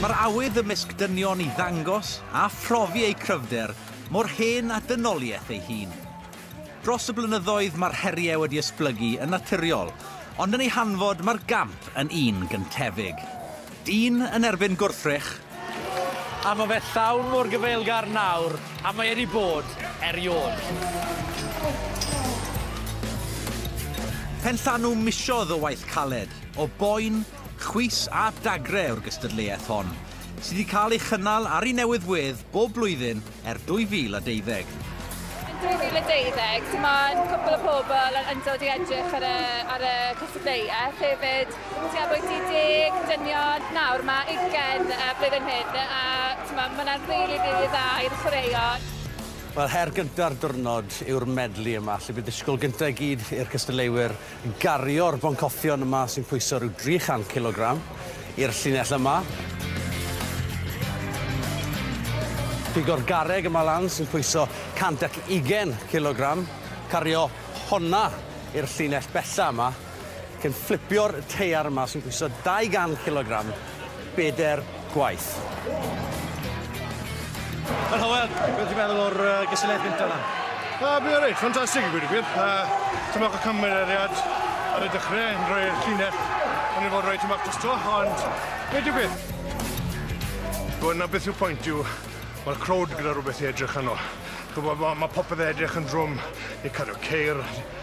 Mae'r awydd ymysg dynion i ddangos a phrofi eu cryfder mor hen â dynoliaeth ei hun. Dros y blynyddoedd mae'r heriau wedi esblygu yn naturiol, ond yn ei hanfod mae'r gamp yn un gyntefig. Dyn yn erbyn gwrthrych. A mae fe llawn mor gyfeilgar nawr a mae e 'di bod eriod. Penllanw misodd o waith caled, o boen, chwys a dagre yw'r gystadleuaeth hon, sydd 'di cael ei chynnal ar ei newydd wedd bob blwyddyn er 2020. Yn 2020, ti ma yn cwpl o pobl yn yndod i edrych ar y, ar y cystadleuaeth hefyd. Ti ma bwyty deg, dynion, nawr ma ugen y blwyddyn hyn, a ti ma, ma na'n rili, rili dda i'r chwaraeon. Wel, her gynta'r dwrnod yw'r medli yma, lle bydd disgwyl gynta i gyd i'r cystadleuwyr. gario'r boncoffion yma sy'n pwyso rhyw 300 cilogram i'r llinell yma. Pigo'r garreg yma lan sy'n pwyso 120 cilogram, cario honna i'r llinell bella yma, cyn fflipio'r teiar yma sy'n pwyso 200 cilogram. bedair gwaith. Helo, Hywel, beth ti'n meddwl o'r uh, gysylltiad gyntaf yna? Uh, Bydd reit, ffantastig i gwir gwir. Uh, Tymoch y cymeriad ar y dechrau yn rhoi'r llinell yn ei fod roi tymoch dros to, ond nid yw beth. Gwyd na beth yw pwynt yw, mae'r crowd gyda rhywbeth i edrych yno. Gwybod, mae, mae popeth yn edrych yn drwm, ni'n cario ceir,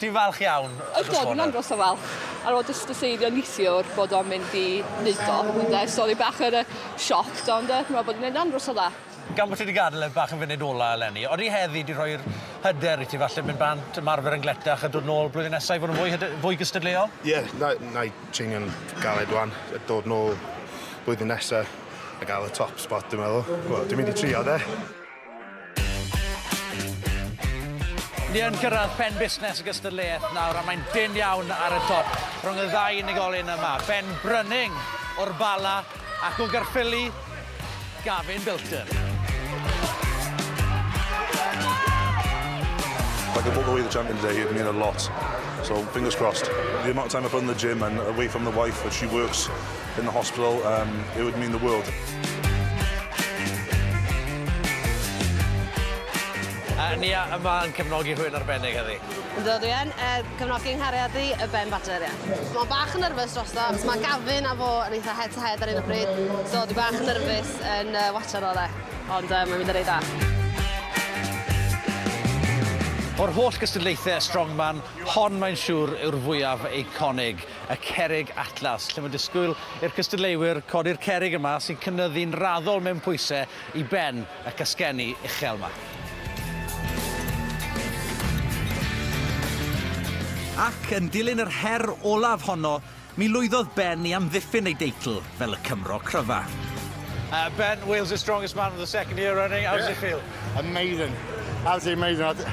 Dwi'n falch iawn o dy sgôr. Yndw, dwi'n andros o falch. Ar ôl jyst deseirio neithiwr bod o'n mynd i wneud o, ynde, so o'n i bach yn yy shocked ond yy dwi'n meddwl bod o'n mynd andros o dda. Gan bo' ti 'di gadel e bach yn funud ola eleni, odi heddi 'di rhoi'r hyder i ti falle mynd bant, ymarfer yn gletach a dod nôl blwyddyn nesa i fod yn fwy hyde- fwy gystadleuol? Ie, na- na'i treinio'n galed ŵan, a dod nôl blwyddyn nesa a ga'l y top spot dwi'n meddwl. Wel, dwi'n mynd i trio de. Ni yn gyrraedd phen busnes y gystadleuaeth nawr a mae'n dim iawn ar y top rhwng y ddau unigolyn yma. Ben Brynning o'r Bala ac o Garffili, Gavin Bilton. Like I walk away the champion today, it mean a lot. So fingers crossed. The amount of time I put in the gym and away from the wife, she works in the hospital um, it would mean the world. A ni a, yma yn cefnogi rhywun arbennig heddi? Ynddo, dwi yn uh, cefnogi nghariad i y Ben Badger, ia. Mae bach yn nyrfys dros ddo, achos mae Gavin a fo yn eitha head to head ar un o bryd, so dwi bach yn nyrfys yn uh, watcher o dde, ond uh, mae'n mynd yn ei da. O'r holl gystadlaethau strongman, hon mae'n siŵr yw'r fwyaf eiconig. y cerrig atlas, lle mae disgwyl i'r cystadleuwyr codi'r cerrig yma sy'n cynyddu'n raddol mewn pwysau i ben y casgenni uchel yma. Ac yn dilyn yr her olaf honno, mi lwyddodd Ben i amddiffyn ei deitl fel y Cymro cryfa. Uh, ben, Wales' strongest man for the second year running. How does it feel? Amazing. Absolutely amazing.